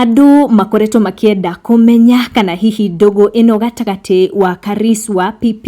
Andũ makoretwo makĩenda kũmenya kana hihi ndũgũ ĩno gatagatĩ wa Karis wa PP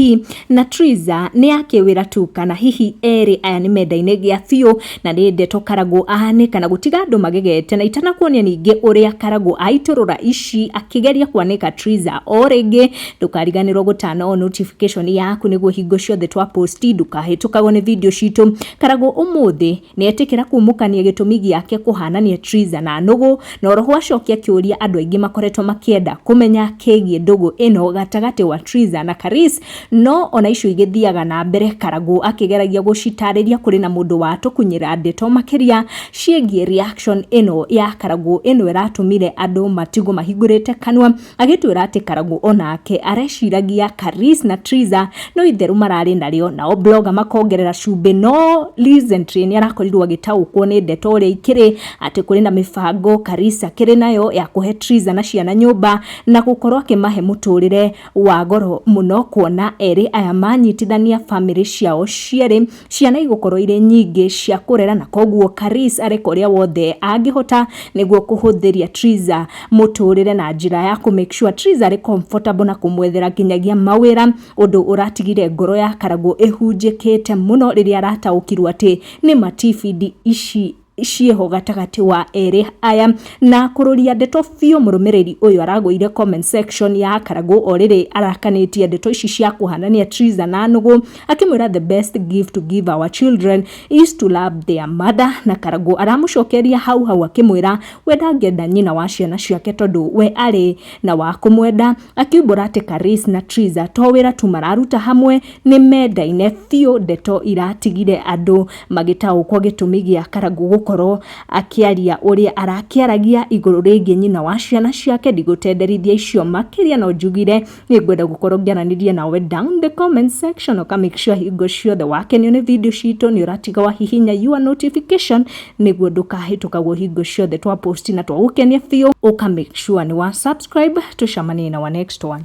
na Triza nĩ ya kĩwĩra tu kana hihi erĩ aya nĩ menda-inĩ gĩa biũ na nĩ ndeto Karagũ ahane kana gũtiga andũ magegete na itanakuonia ningĩ ũrĩa Karagũ aitũrũra ici akĩgeria kwanĩka Triza o rĩngĩ. Ndũkariganĩrwo gũturn on notification yaku nĩguo hingo ciothe twa post ndũkahĩtũkagwo nĩ video citũ. Karagũ ũmũthĩ... Nĩetĩkĩra kumũkania gĩtũmi gĩake kũhanania Triza na nũgũ, na oroho acokia kĩũria andũ aingĩ makoretwo makĩenda kũmenya kĩgiĩ ndũgũ ĩno gatagatĩ wa Triza na Karis, no ona icio igĩthiaga na mbere Karangũ akĩgeragia gũcitarĩria kũrĩ na mũndũ watũkunyĩra ndeto makĩria ciĩgiĩ reaction ĩno ya Karangũ ĩno ĩratũmire andũ matigwo mahingũrĩte kanua. Agĩtwĩra atĩ Karangũ o nake areciragia Karis na Triza no itherũ mararĩ narĩo, nao blogger makongerera cumbĩ, no recently nĩ arakorirwo agĩtaũkwo nĩ ndeto ũrĩa ikĩrĩ atĩ kũrĩ na mĩbango Karis akĩrĩ nayo ya kũhe Triza na ciana nyũmba na gũkorwo akĩmahe mũtũrĩre wa goro mũno kuona erĩ aya manyitithania bamĩrĩ ciao cierĩ. Ciana igũkorwo irĩ nyingĩ cia kũrera na koguo Karis areka ũrĩa wothe angĩhota nĩguo kũhũthĩria Triza mũtũrĩre na njĩra ya kũ make sure Triza arĩ comfortable na kũmwethera nginyagia mawĩra ũndũ ũratigire ngoro ya Karagũ ĩhunjĩkĩte mũno rĩrĩa arataũkirwo atĩ nĩ ma TVD ici ciĩho gatagatĩ wa erĩ aya. Na kũrũria ndeto biũ mũrũmĩrĩri ũyũ aragũire comment section ya Karagũ o rĩrĩ arakanĩtie ndeto ici cia kũhanania Triza na Nũgũ akĩmwĩra the best gift to give our children is to love their mother na Karagũ aramũcokeria hau hau akĩmwĩra we ndangĩenda nyina wa ciana ciake tondũ we arĩ na wa kũmwenda Akiumbũra atĩ Karis na Triza to wĩra tu mararuta hamwe, nĩ mendaine biũ. Ndeto iratigire andũ magĩtaũkwo gĩtũmi gĩa Karangũ gũkorwo akĩaria ũrĩa arakĩaragia igũrũ rĩgiĩ nyina wa ciana ciake. Ndigũtenderithia icio makĩria, no njugire nĩ ngwenda gũkorwo ngĩaranĩria nawe down the comment section, ũka make sure hingo ciothe wakenio nĩ video citũ nĩ ũratiga wahihinya your notification. nĩguo ndũkahĩtũkagwo hingo ciothe twa post na twagũkenia biũ ũka make sure nĩ wa subscribe tũcamanie na wa next one